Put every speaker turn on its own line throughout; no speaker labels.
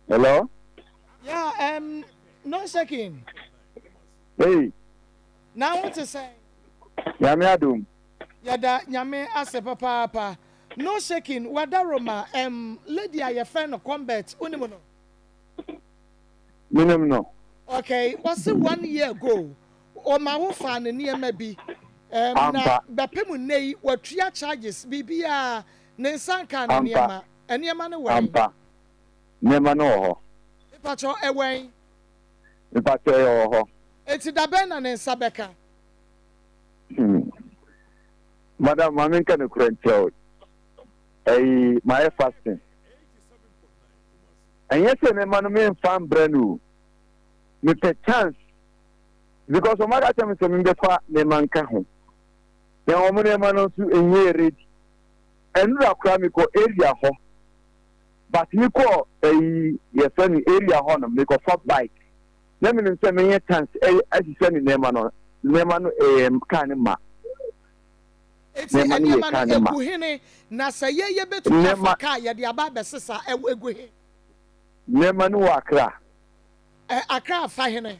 Hello? Yeah,
um, no shaking. Hey.
Na
wo te sɛn? Nyame
adom. Yɛda
Nyame ase papaapa. No shaking, wada Roma, um, lady a yɛfrɛ no Combert, wonim no?
Menim no. Okay, wɔse
one year ago, ɔma wo faa ne nneɛma bi. Um, na bɛpem nnɛ yi, watua charges, biribiara, ne nsa nkaa ne nneɛma. Nneɛma no wɔ he? Ampa, nneɛma
no wɔ hɔ. Mepakyɛ wo, ɛwɔ he?
Mepakyɛ
wo, ɛwɔ hɔ. Enti da bɛn na
ne nsa bɛka? Hmm.
Madam, ma menka nokorɛ nkyerɛ wo. Ɛyi, mayɛ fasting. Ɛnyɛ sɛ nneɛma no memfa mbrɛ no o. Mepɛ chance. Because wɔn aka kyerɛ me sɛ membɛfa nneɛma nka ho. Na wɔn nneɛma no nso nyɛɛ ready. Ɛnora koraa me kɔ area hɔ but me kɔɔ ɛyi yɛfrɛ no area hɔ nom me kɔ fa bike na me nim sɛ me yɛ tanks ɛsisɛ ne nneɛma no nneɛma no ɛyɛ kaa ne ma
eti nneɛma no egu hene na sɛ yɛ yɛ betumi afa kaa yɛ de aba abɛsesa ɛwɔ egu he. Nneɛma
no wɔ akra. Ɛ
akra afa hene.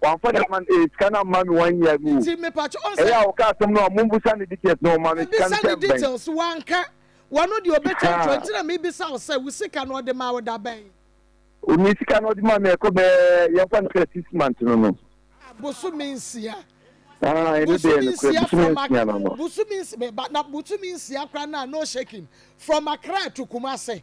Wamfa ne man ee sika no amma me one year ago Nti me pakyɛ ɔn sɛ. Ɛyɛ a
ɔka asɛm no a ɔmo
mbusa ne details na ɔma no sika no tɛm bɛn. Mebisa ne details
wanka. Wano deɛ ɔbɛtwantwa nti na mebisa wo sɛ wo sika no ɔde maa wo da bɛn. O me sika
no ɔde maa me ɛkɔ bɛɛ yɛmfa no sɛ six months no no. Ah bosome nsia. Ah ɛno deɛ yɛ nokorɛ bosome
nsia
no no. Bosome nsia me ba
na bosome nsia koraa naa no shaking from Accra to Kumasi.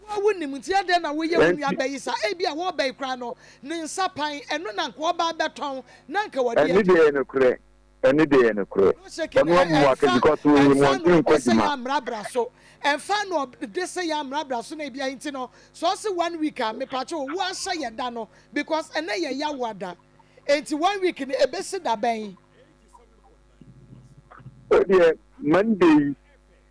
Wo a
wunim nti adɛn na woyɛ wo nuabea yi saa? Ebia wɔba yi koraa no, ne nsa pan, ɛno na anka ɔba abɛtɔn, na anka w'ade adi. Ɛno deɛ ɛyɛ nokorɛ,
ɛno deɛ ɛyɛ nokorɛ. Ɔno abu wo atɛn because wonim ɔntumi nkɔ adwuma.
Ɛmfa no ɔde sɛ yɛn ammra bra so na ebia nti no, sɛ ɔse one week a, mepakyɛ wo, woahyɛ yɛ da no because ɛnnɛ yɛ Yawa da, enti one week no ɛbɛsi da bɛn? Wo
deɛ Monday yi.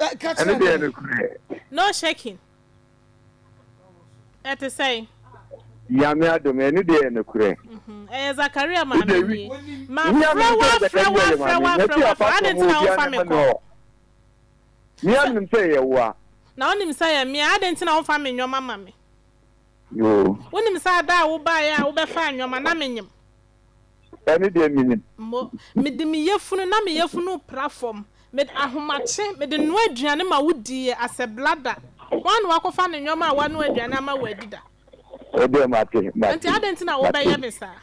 ɛne deɛ no korɛ. no shaking ɛte sɛn. Nyame
adom ɛne deɛ yɛ nokorɛ. Ɛyɛ Zakaria
maame nie. Ma frɛ wa frɛ wa frɛ wa frɛ wa frɛ adi nti na wo fa me kɔ.
Mia nim sɛ yɛ wa. Na wo nim sɛ yɛ
mia adi nti na wo fa me nyɔma ma me. Yoo.
Wo nim sɛ ada
a wo ba yɛ a wo bɛ fa nyɔma na me nyim. Ɛno
deɛ menim. Mo, mede me
yafunu na me yafunu repra fam, mede ahomakye, mede noa aduane ma wo di yɛ asɛ blada. Hwan na wakɔfa ne nneɛma a wanoa aduane ama wo adi da? Wo deɛ
mate, mate. Enti adɛn nti na
wobɛyɛ me saa?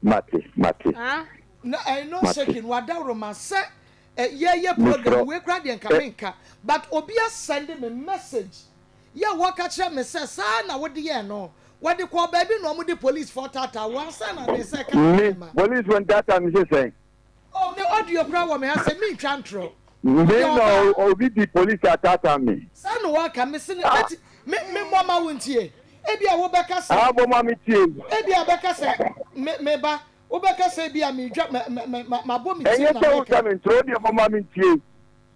Mate,
mate. Ah? Na
ɛɛ no shaking wadaworo ma sɛ ɛ yɛyɛ program wei koraa deɛ nka menka but obi asɛnde me message. Yehowa ka kyerɛɛ me sɛ, Saa ara na wode yɛɛ no. Wɔde kɔɔ baabi na wɔde polisifo taataa wo ansa na ne nsa reka ne nneɛma. Me, polisifo ntaataa
me sɛ sɛn? Ná audio
koraa wɔ me ha sɛ mintwa ntorɔ. Me na
obi de polisi ataataa me. Saa na wɔaka. Mise
no, Enti memmɔ mma wo ntie? Ebia wobɛka sɛ. Aa, bɔ ma metie.
Ebia ɔbɛka sɛ,
Me, me ba, wobɛka sɛ
ebia
meredwa,
mɛ,
mɛ,
mɛ,
mabɔ
me
tirim na mereka.
Ɛnyɛ sɛ woka
me
ntorɔ, wo
deɛ bɔ
ma
mentie.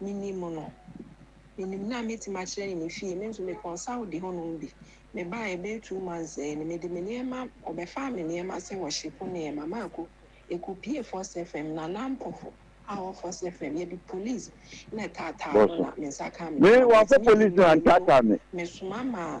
minim no. Minim no a mɛtumi akyerɛ ne ne fie. Me nso me kɔnsaode hɔnom bi. Me baa yɛ bɛyɛ two months sɛɛ no, mede me nneɛma, ɔbɛfaa me nneɛma sɛ wɔhyepo nneɛma. Maako, yɛkɔ pie First FM, Nana Ampofo a ɔwɔ First FM, yɛde police na ɛtaataa no na me nsa kaa me nneɛma. Mantumi
nwie no, mesoma maa.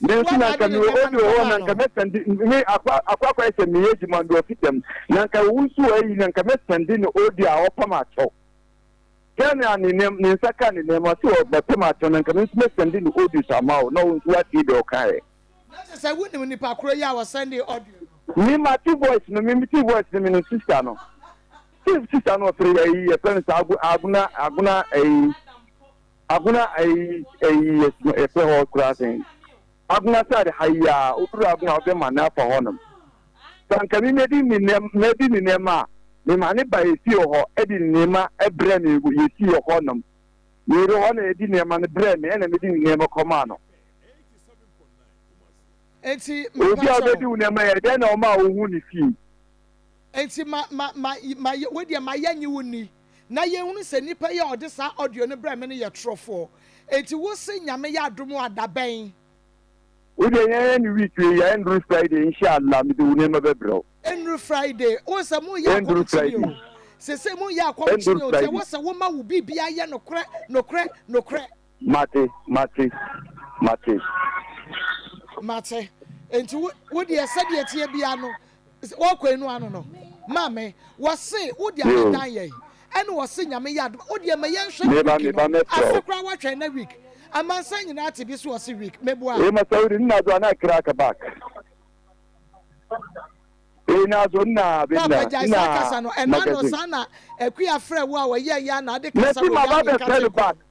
Me nso na anka mewɔ obi wɔ hɔ na anka mɛsɛnde me akɔ akɔ akɔyɛ sɛ meyɛ adwuma no ɔfi dɛm na anka wo nso ayi na anka mɛsɛnde no odi a ɔpam atɔ sɛ na ne nam ne nsa ka ne nam ase wɔ mɛpam atɔ na anka me nso mɛsɛnde no odi so ama wo na wo nso woatie deɛ ɔka ɛ. Na kyɛ sɛ wonim
nipa koro yi a wɔsɛnde audio no. Me mate
voice no me mete voice no me no sister no sɛ sister no ɔfrɛ yɛ yi yɛfrɛ no sɛ agona agona ɛyi. Agona ayi yɛ yɛfrɛ hɔ koraa sɛn? Agona side ha yi aa woduru agona wode ma no afa hɔnom. Sɛ anka me mɛdi ne nɛm mɛdi ne nɛɛma a me ma ne ba ɛsi wɔ hɔ ɛde ne nɛɛma ɛbrɛ me yɛsi wɔ hɔnom me yere hɔ na ɛdi nɛɛma no brɛ me ɛna mɛdi ne nɛɛma kɔmaa no.
Enti me Obi a ɔbɛdi wo
nɛɛma yɛ dɛn na ɔmaa wo ho ne fii? Enti
ma ma ma ma yɛ wei deɛ ma yɛ nye wo nni. na yɛhunu sɛ nipa yi a ɔde saa audio no brɛɛ me no yɛ torɔfoɔ. Enti wo se Nyame yɛ adom a da bɛn? Wo
deɛ yɛn yɛ ne week wei a ɛnnuru Friday insha Allah mede wo nneɛma bɛbrɛ wo. Ɛnnuru Friday,
wohu sɛ mo reyɛ akɔm kyene o, seesei mo reyɛ akɔm kyene o, nti ɛwɔ sɛ woma wo biribiara yɛ nokorɛ, nokorɛ, nokorɛ. Mate, mate, mate. Mate. Enti wo, wo deɛ sɛdeɛ ɛteɛ biara no, wɔkɔ enu ano no, ma me. Wɔse wode abɛdan yɛn, ɛna wɔse Nyame yɛ adom a, wo deɛ ma yɛnhwɛ ne week no. Ase koraa woatwɛn na week? Amansan nyinaa te bi so wɔse week. Meboa? Ee Masaudi, ne na do
a na kra ka back. Ee na so na bi na. Papa gyae saa kasa no, ɛna ano
saa na akua frɛ wo a wɔyɛ yɛ a na ade kasa wɔ yɛ a nka te kɔ.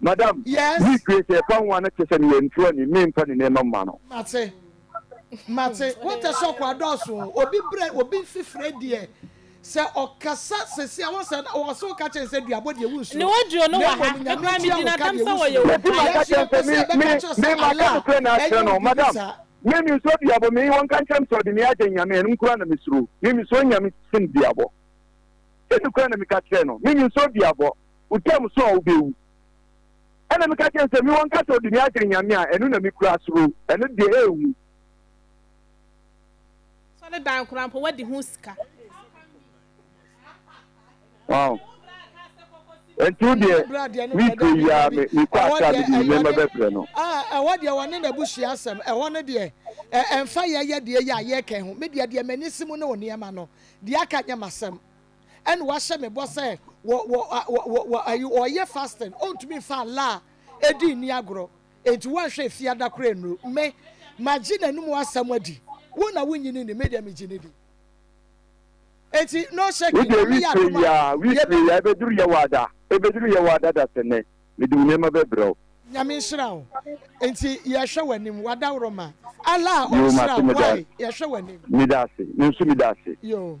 Madam, Yes. me
due sɛ ɛfa ho a
na kyerɛ sɛ meyɛ ntuani, me mfa ne nneɛma mma no. Mate.
Mate. Wotɛ sɛ ɔkɔ adɔɔso o. Obi brɛ, obi nfi frɛ deɛ, sɛ ɔkasa sɛsi a, wɔsɛ na wɔsɛ woka kyɛn sɛ duabɔ deɛ wo nsuro. Ne audio no wɔ ha.
Me koraa me di na dam sɛ wɔyɛ obi. Mesi maka kyɛn sɛ me, me, me maka no
frɛ na akyerɛ no. Madam, me me nsuro duabɔ, me wɔn ka nkyerɛ me sɛ ɔde me agye nyame, ɛnom koraa na me suro. Me me suro nyame sen duabɔ. Ɛnu koraa na me ka kyerɛ no, me me nsuro duabɔ. Wo tam so a wobɛwu. Ɛna meka kyerɛ no sɛ, Mewɔ nkasa odi me akyere nyame a, ɛno na mekura suro, ɛno deɛ ɛnwu.
Sɔ ne dan koraa mpo wadi ho sika.
Wow. Ɛnti wo deɛ, week wei yi ara me, mekɔ Accra me de me nneɛma bɛbrɛ no. Ah, ɛhɔ deɛ wɔne
n'abusua asɛm, ɛhɔ no deɛ, ɛ, ɛmfa yɛyɛ deɛ yɛ a yɛka ho. Me deɛ, deɛ m'ani si mu ne wo nneɛma no. Deɛ aka nyɛ m'asɛm. ɛna wahyɛ me bɔ sɛ wɔ wɔ wɔ wɔ wɔ ayi ɔyɛ fasting ɔntumi nfa Allah a edi nni agorɔ enti wanhwɛ efi ada koraa nnuru me magye n'anum asɛm adi wo na wonnye no nni me deɛ megye no di enti no shaking Wodeɛ Nyame yɛ witire adom a yia
witire yɛbɛ yia ɛbɛduru yɛwada ɛbɛduru yɛwada dasɛnɛ mede wo nneɛma bɛbrɛ wo. Nyame nhyira wo
enti yɛhwɛ w'anim w'adaworoma Allah a Yoo ɔnhyira mate wo meda why yɛhwɛ w'anim. Meda ase me nso
meda ase. Yoo.